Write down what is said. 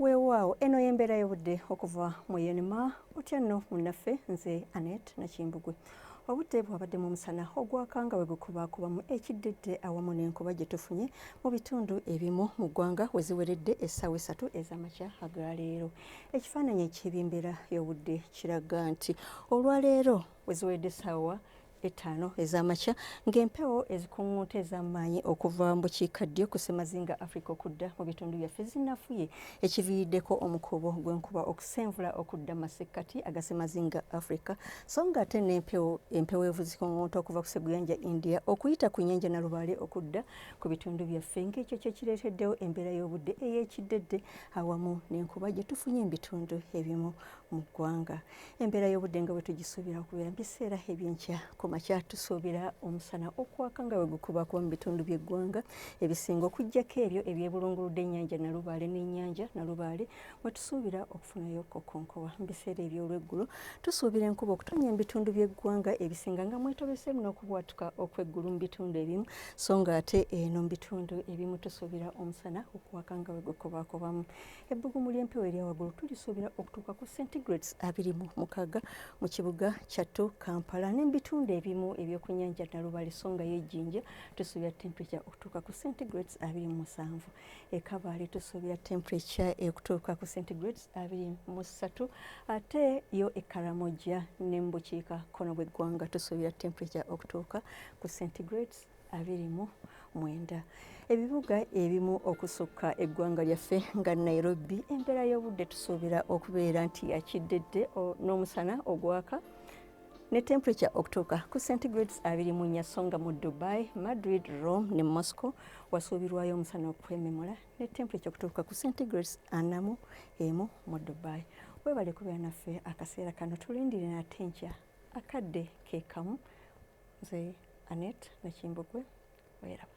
weewaawo eno y'embeera y'obudde okuva mu yenima otya nno munnaffe nze anet nakimbugwe obudde bwabadde mu musana ogwaka nga wegukubaakubamu ekiddidde awamu n'enkuba gye tufunye mu bitundu ebimu mu ggwanga we ziweredde essaawa esatu ez'amakya agaleero ekifaananyi eky'ebyembeera y'obudde kiraga nti olwaleero we ziweredde essaawa ettaano ez'amakya ng'empewo ezikuŋŋunta ez'amaanyi okuva mu bukiikaddyo ku ssemazinga afrika okudda mu bitundu byaffe zinafuye ekiviiriddeko omukuubo gw'enkuba okusenvula okudda masekkati aga ssemazinga afrika so nga ate n'empewo empewo evu zikuŋŋunta okuva ku seguyanja india okuyita ku nnyanja nalubaale okudda ku bitundu byaffe ng'ekyo kye kireeteddewo embeera y'obudde ey'ekiddedde awamu n'enkuba gye tufunye mu bitundu ebimu mu ggwanga embeera y'obudde nga bwe tugisuubira okubeera mu biseera ebyenkya ku makya tusuubira omusana okwaka nga bwe gukuba kuba mu bitundu by'eggwanga ebisinga okuggyako ebyo ebyebulunguludde ennyanja nalubaale n'ennyanja nalubaale mwe tusuubira okufunayo kokonkowa mu biseera eby'olweggulo tusuubira enkuba okutonya mu bitundu by'eggwanga ebisinga nga mwetobeseemu n'okubwatuka okw'eggulu mu bitundu ebimu so nga ate eno mu bitundu ebimu tusuubira omusana okwaka nga bwe gukubakubamu ebbugumu ly'empewo erya waggulu tulisuubira okutuuka ku centigrades abiri mu mukaaga mu kibuga kyattu kampala n'ebitundu ebimu ebyokunyanja nalubale so nga yejjinja tusuubira temperature okutuuka ku centigrades abiri mu musanvu ekabaale tusuubira temperature ekutuuka ku centigrades abiri mu ssatu ate yo ekaramoja ne mu bukiika kkono bw'eggwanga tusuubira temperature okutuuka ku centigrades abiri mu mwenda ebibuga ebimu okusukka eggwanga lyaffe nga nairobi embeera y'obudde tusuubira okubeera nti yakiddedde n'omusana ogwaka ne temperature okutuuka ku centigrades abiri mu nnya so nga mu dubai madrid rome ne moscow wasuubirwayo omusana okwememula ne temperature okutuuka ku centigrades anamu emu mu dubai webale kubeera naffe akaseera kano tulindire nate nkya akadde kekamu nze Annet Nakimbugwe weraba.